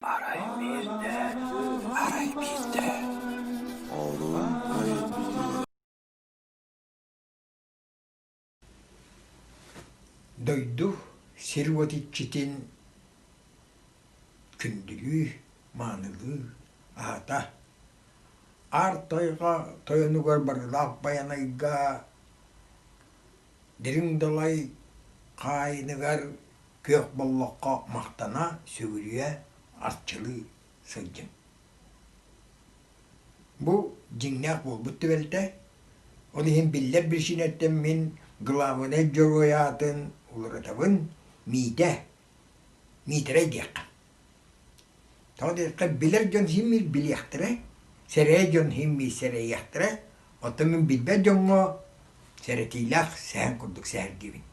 Арай биирдэ, арай биирдэ олуун өйдүүр Дойду сир-уот иччитин күндүлүүр, маанылыыр аата Аар Тойго тойонугар барылаах Байанайга Дириҥ далай хаайыныгар күөх боллоххо махтана сүгүрүйэ арчылыы сылдьым. Бу дьиҥнээх буолбут түбэлтэ. Ол иһин биллэр биричиинэттэн мин главнай дьоруой аатын уларытабын Миитэ. Миитэрэй диэххэ. Тоҕо диэтэххэ, билэр дьон син-биир билиэхтэрэ, сэрээй дьон син-биир сэрэйиэхтэрэ. Оттон мин билбэт дьоҥҥо сэрэтиилээх сэһэн курдук сэһэргиибин.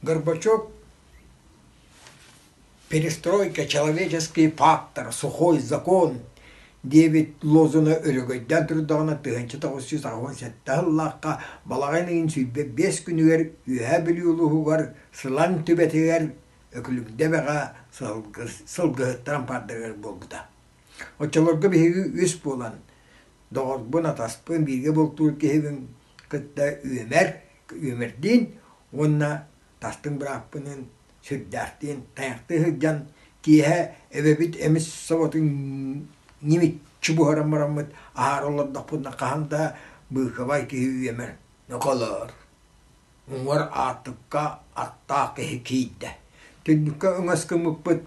Горбачев «Перестройка человеческий пактор. Сухой закон» диэбит лозуна өрөгөйдөөн турдаҕына тыһыынча тоҕус сүүс аҕыс уон сэттэ сыллаахха балаҕан ыйын сүүрбэ биэс күнүгэр Үөһээ Бүлүү улууһугар Сылан түбэтигэр Өкүлүкдэбэҕэ сылгыһыттаран пардагар буолбута. Оччолорго биһиги үс буолан, доҕорбун, атаспын, бииргэ бултуур киһибин кытта үөмэр, үөмэрдиин уонна тастыҥ бырааппыныын сүрдээхтиин тайахтыы сылдьан, киэһэ эбэбит эмис соботун нимиччи буһаран бараммыт, аһаары олордохпутуна хаһан да быыкабай киһи үөмэр ноколоор уҥуор аартыкка аттаах киһи киирдэ. Түннүккэ өҥөс гыммыппыт,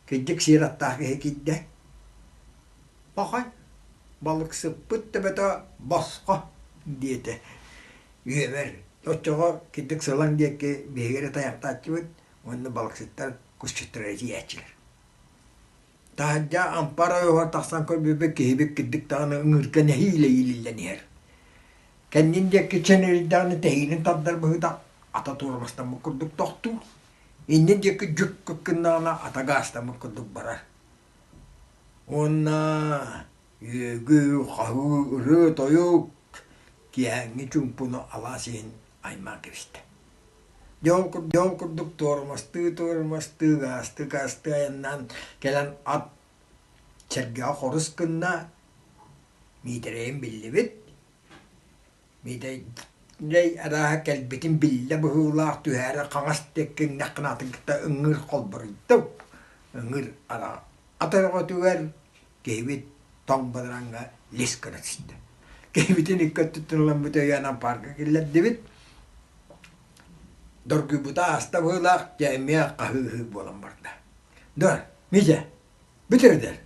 кирдик сиэр аттаах киһи киирдэ. Пахай, балыксыппыт төбөтө босхо, диэтэ. Үөбэр оччоҕо кирдик сылаҥ диэки биһиги эрэ тайахтааччыбыт уонна балыксыттар кусчуттара илийээччилэр Таһырдьа ампар ойоһор тахсан көрбүппүт киһибит кирдик даҕаны ыҥыырга нэһиилэ иилиллэн иһэр. Кэннин диэки чэнирийдэҕинэ тэһиинин тардар быһыытах ата туормастаммыт курдук тохтуур. Иннин диэки дьүккүк гыннаҕына ата гаастаммыт курдук барар. Уонна үөгү, хаһыы, ырыа-тойук, киэһээҥҥи чуумпуну алаас иһин аймаан кэбистэ Дьон дьон курдук туормастыы туормастыы ыгаастык аастыы айаннаан кэлэн ат сэргэҕэ хорус гынна Миитэрэйин биллибит Миитэрэй арааһа кэлбитин биллэ быһыылаах түһээри хаҥас диэкки иҥнэххинэ атын кытта ыҥыыр холборуйда ыҥыыр ата ат өрөҕөтүгэр Киһибит тоҥ бадараҥҥа лис гына сыстэ. Киһибитин икки өттүттэн ылыммыт өйөөнөн парка киллэрдибит. Доргуйбута ааста быһыылаах, дьэ эмиэ хаһыы-ыһыы буолан барда. Дор, Митя, бүтөр дэр.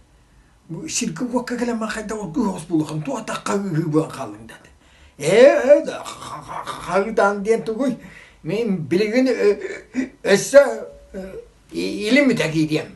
Бу сиргэ уокка кэлэн ман хайда оргуй оҕус булухан туох атах хаһыы-ыһыы буолан хааллыҥ дады. Ээ, ээ, хаһыытаан диэн тугуй? Мин билигин өссө илиммитэ киириэм.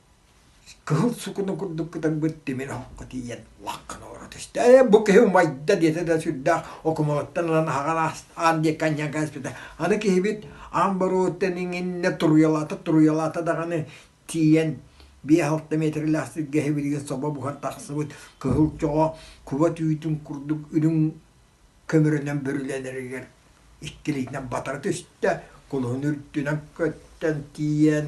Кыһыл сукуну курдук кытарбыт тимир оһоххо тиийэн лаххана ора түстэ. «Э, бу киһи умайда» диэтэ да сүрдээх окумалыттан ылан аһаҕар аан диэки анньан кээспитэ. Аны киһибит аан боруоттан иҥиннэ туруйалаата туруйалаата даҕаны тиийэн биэс-алта миэтэрэлээх сиргэ иһибитигэр собо буһан тахсыбыт кыһыл чоҕо куба түүтүн курдук үрүҥ көмөрүнэн бүрүлэнэригэр иккилиитинэн батара түстэ, кулуһун үрдүнэн көттөн тиийэн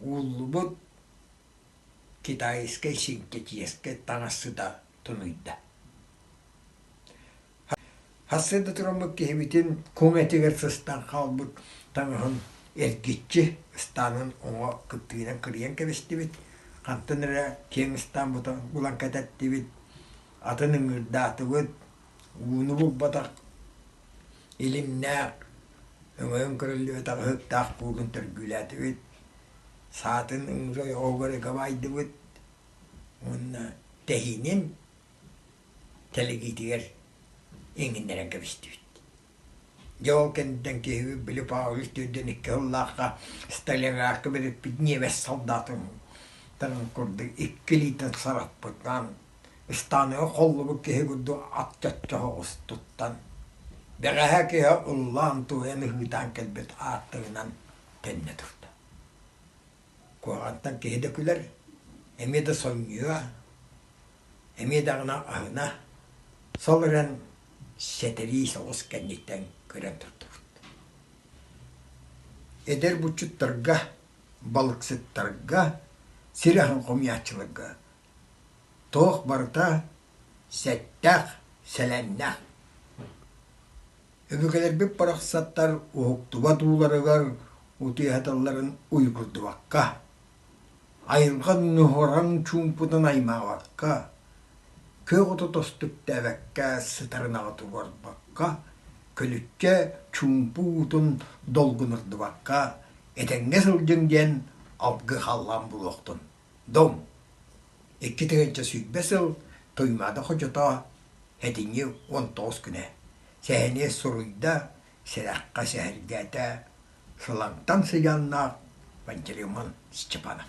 Ууллубут китайскай синтэтиэскэ таҥас сыта тунуйда. Хас да туруммут киһибитин куҥ этигэр сыстан хаалбыт таҥаһын эргиччи ыстаанын уҥа кыптыынан кырыйан кэбистибит, хантан эрэ киэҥ ыстаан бута булан кэтэттибит, атын ыҥыырдаатыбыт, ууну булбатах, илимнээх, өҥөйөн көрүллүбэтэх ыһыктаах пуутун төргүүлээтибит, саатын уус ойоҕугар ыга баайдыбыт уонна тэһиинин тэлэгиитигэр иҥиннэрэн кэбистибит Дьэ ол кэнниттэн киһи били Павел түөрдүн икки сыллаахха столяракка бэриппит ниэбэс солдатын курдук икки илиитин сараппытынан ыстааныга холлубут киһи курдук ат чоччо оҕустуттан бэҕэһээ киһи уллаан туойан ыһыытаан кэлбит ааттыгынан төннө турда Куһаҕантан киһи да күлэр, эмиэ да сонньуйуо, эмиэ даҕаны аһына, сол эрэн сэтэрии соҕус кэнниттэн көрөн турдубут. Эдэр булчуттарга, балыксыттарга, сир аһын хомуйааччыларга Туох барыта сэттэх, сэлэннэ. Өбүгэлэрбит барахсаттар уһуктубат ууларыгар утуйаталларын уйгурдубакка, айылҕа нуһараҥ чуумпутун аймаабакка, күөх оту тостуктээбэккэ сытарынаҕы туруорбакка, күлүккэ чуумпу уутун долгунурдубакка этэҥҥэ сылдьыҥ диэн алгы халлаан булуохтун. Дом, икки тыһыынча сүүрбэ сыл Туймаада хочото этиҥи уон тоҕус күнэ сэһэнийэ суруйда, сэрэххэ сэһэргээтэ Сылаҥтан сыдьааннаах Пантелеймон Степанов